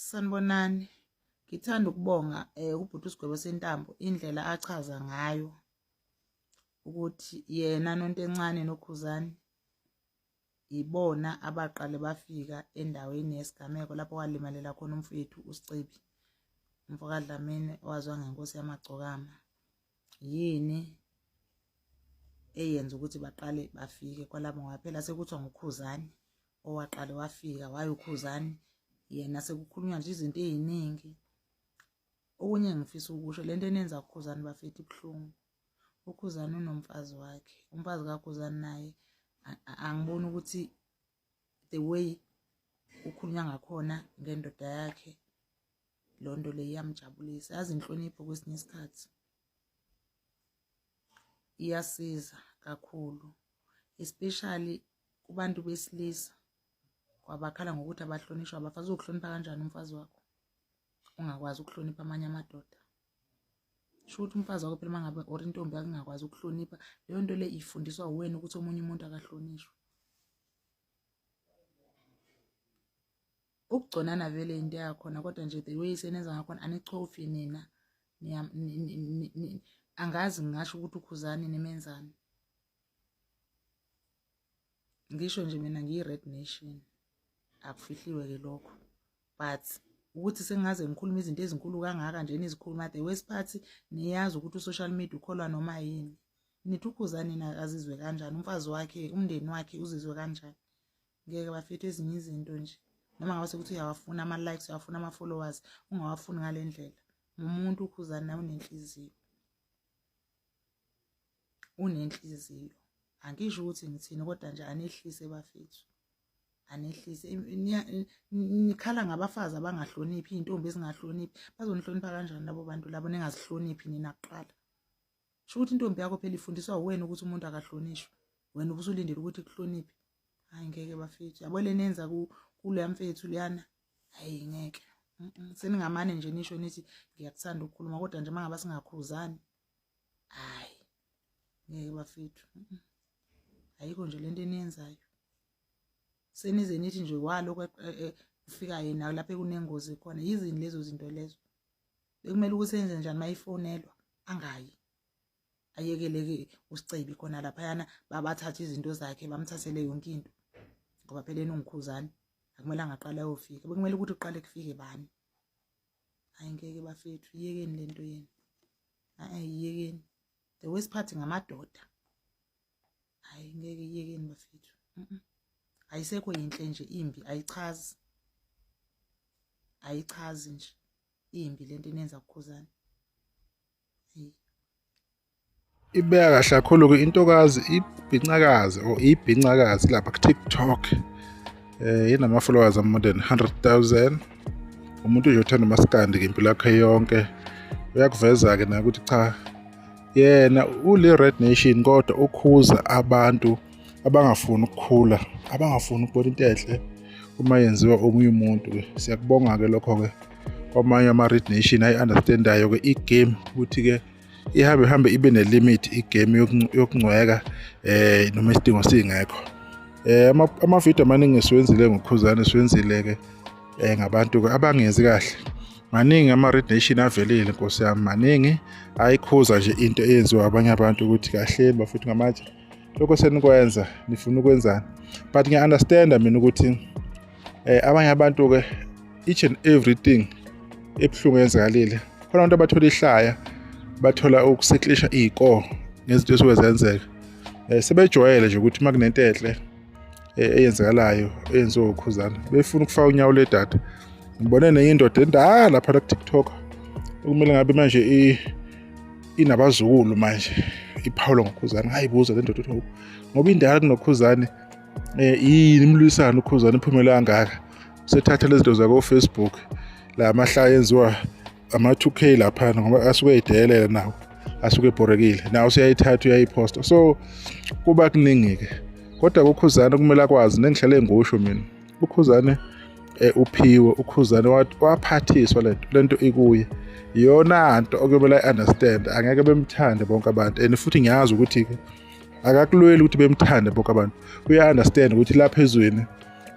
sanibonani ngithanda ukubonga eh ubhuti usigwebo sentambo indlela achaza ngayo ukuthi yena nontencane nokhuzani yibona abaqale bafika endaweni yesigameko lapho walimalela khona umfowethu usicebi umfokadlamini owazwa ngenkosi yamagcokama yini eyenza ukuthi baqale bafike kwalabo ngoba phela sekuthiwa ngukhuzani owaqale wafika wayokhuzani yena sekukhulunywa nje izinto eziningi okunye ngifisa ukusho lento enenza ukhuzani bafethi ibuhlungu ukhuzani unomfazi wakhe umfazi kakhuzani naye angiboni ukuthi the way ukhulunywa ngakhona ngendoda yakhe loo nto leyo iyamjabulisa yazi inhlonipho kwesinye isikhathi iyasiza kakhulu especially kubantu besilisa kwabakhala ngokuthi abahlonishwa abafazi uzokuhlonipha kanjani umfazi wakho ungakwazi ukuhlonipha amanye amadoda sho ukuthi umfazi wakho phela uma ngabe or intombi yakungakwazi ukuhlonipha leyo nto le ifundiswa wena ukuthi omunye umuntu akahlonishwe ukugconana vele into yakhona kodwa nje the way senenza ngakhona anichofi nina angazi ngingasho ukuthi ukhuzani nimenzani ngisho nje mina ngiyi-red nation akufihliwe ke lokho but ukuthi sengaze ngikhulume izinto ezinkulu kangaka nje nizikhuluma the worst part niyazi ukuthi u-social media ukholwa noma yini nithi ukhuzani na azizwe kanjani umfazi wakhe umndeni wakhe uzizwe kanjani ngeke bafethu ezinye izinto nje noma ngabe sekuthi uyawafuna ama likes uyawafuna ama followers ungawafuni ngalendlela ngumuntu ukhuzana nawe unenhliziyo unenhliziyo angisho ukuthi ngithini kodwa nje anehlise bafethu anehlise nikhala ngabafazi abangahloniphi izintombi ezingahloniphi bazonihlonipha kanjani labo bantu labo ningazihloniphi nina kuqala sho ukuthi intombi yakho phela ifundiswa uwena ukuthi umuntu akahlonishwe wena ubusulindele ukuthi kuhloniphe hayi ngeke bafethu yabo lenenza kuleya mfethu liyana hayi ngeke seningamane nje nisho nithi ngiyakuthanda ukukhuluma kodwa nje mangaba singakhuzani hayi ngeke bafethu ayikho nje lento eniyenzayo senize nithi nje walokho e, e, kufika yena lapho ekunengozi khona yizini lezo zinto lezo bekumele ukuthi enze njani mayifonelwa angayi ayekeleke usicebi khona laphayana babathathe izinto zakhe bamthathele yonke into ngoba phela enongikhuzane akumele angaqala ayofika bekumele ukuthi uqale kufike bani hayi ngeke bafethu yiyekeni le nto yenu hayi yiyekeni the worst part ngamadoda hayi ngeke iyekeni bafethu ayisekho yinhle nje imbi ayichazi ayichazi nje imbi lento inenza kukhuzana ibeka kahle kakhulu ke intokazi ibhincakazi or ibhincakazi lapha ku TikTok eh inama followers am more than 100,000 umuntu nje uthanda umaskandi ngempilo yakhe yonke uyakuveza ke nakuthi cha yena ule red nation kodwa ukhuza abantu abangafuni ukukhula abangafuni ukubona into enhle uma yenziwa omunye umuntu ke siyakubonga ke lokho ke kwamanye ama red nation ayi understandayo ke igame ukuthi ke ihambe hambe ibe ne limit igame yokungcweka eh noma isidingo singekho eh ama video amaningi siwenzile ngokhuzane siwenzile ke eh ngabantu abangenzi kahle maningi ama red nation avelile nkosi yami maningi ayikhuza nje into eyenziwa abanye abantu ukuthi kahle bafuthi ngamatshe lokho senikwenza nifuna ukwenzani but ngiya understand mina ukuthi eh abanye abantu ke each and everything ebuhlungu yenzakalile khona abantu abathola ihlaya bathola ukusetlisha iy'koo ngezinto esuke zenzeka um sebejwayele nje ukuthi uma kunento enhle e, eyenzekalayo eyenziwe ukhuzana befuna ukufaka unyawo ledata ngibone nenye indoda endala lapha la kuTikTok okumele ngabe manje i inabazukulu manje iphawula ngokhuzane ngayibuza le ndoda ukuthi ngoba indala kunokhuzane eh yini imlwisana ukhuzane iphumela kangaka usethatha lezi zinto zakofacebook la mahlaya enziwa ama-2k laphana ngoba asuke edeyelela nawo asuke ebhorekile nawo usuyayithatha uyayiphosta so kuba kuningi-ke kodwa kukhuzane kumele akwazi nengihlale ngusho mina ukhuzane eh, uphiwe ukhuzane waphathiswa lento lento ikuye iyona nto okuyomele i-understand angeke bemthande bonke abantu and futhi ngiyazi ukuthi-ke akakulweli ukuthi bemthande bonke abantu uya-understand ukuthi lapha ezweni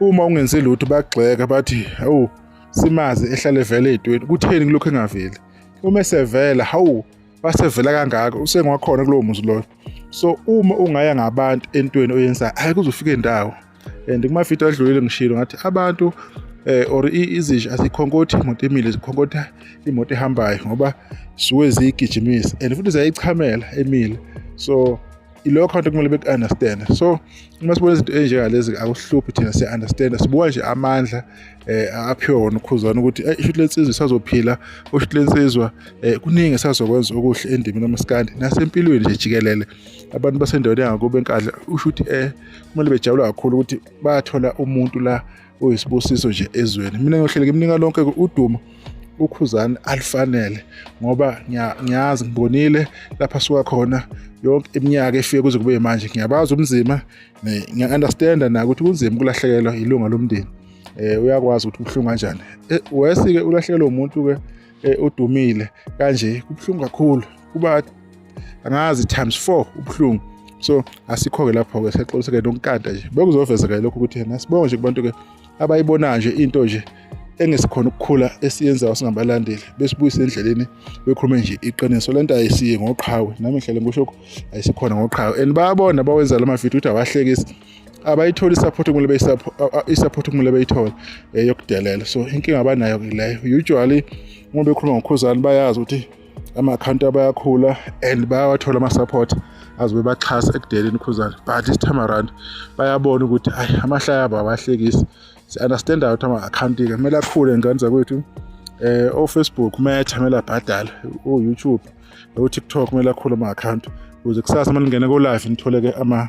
uma ungenzi lutho bagxeka bathi awu simazi ehlale vele edweni kutheni kulokhu engaveli uma esevela hawu wasevela kangaka usengwakhona kulowo muzi loyo so uma ungaya ngabantu entweni oyenzayo hayi kuzofika indawo and kumavidiyo adlulile ngishilo ngathi abantu eh or izinja asikhonkothi imoto emile zikhonkotha imoto ehambayo ngoba suke ziyigijimisa and futhi ziyayichamela emile so iloyo count kumele beku-understand so uma sibona izinto enjengalezi akusihluphi thina siya-understanda sibuka nje amandla eh aphiwe wona ukhuzana ukuthi eh, ishuthi lensizwa isazophila ushuthi lensizwa eh, kuningi esazokwenza okuhle endimini amaskandi nasempilweni nje jikelele abantu basendaweni yangakubo enkadla ushuthi eh kumele bejabula kakhulu ukuthi bathola umuntu la uyisibusiso nje ezweni mina ngiyohlele ngimnika lonke udumo ukhuzani alifanele ngoba ngiyazi ngibonile lapha suka khona yonke iminyaka efike kuze kube manje ngiyabazi umzima ngiya-understanda na ukuthi kunzima ukulahlekelwa ilunga lomndeni um uyakwazi ukuthi ubuhlungu kanjani eh, wesi-ke ulahlekelwe umuntu-ke eh, udumile kanje kubuhlungu kakhulu kuba angazi times 4 ubuhlungu so asikho-ke lapho-ke sexoliseke nonkanta nje bekuzovezeka lokho ukuthi yena sibonge nje kubantu-ke abayibonayo nje into nje engesikhona ukukhula esiyenzayo singabalandeli besibuyise endleleni bekhulume nje iqiniso le nto ayisiye ngoqhawe nami ngihlele ngisho ayisikhona ngoqhawe and bayabona bawenza la mavidiyo ukuthi awahlekisi abayitholi support kumele i-support kumele bayithole eh, yokudelela so inkinga abanayo ke leyo usually uma bekhuluma ngokhuzani bayazi ukuthi ama-akhawunti abayakhula and bayawathola ama-support azobe baxhasa ekudeleni ukhuzane but this time around bayabona ukuthi ayi amahlaya abo abahlekisi si-understand out ama-akhawunti-ke kumele akhule ngane zakwethu um eh, ofacebook umetha kumele abhadale uyoutube utiktok kumele akhule ama-akhawunti ukuze kusasa uma lingene ko-live nithole-ke ama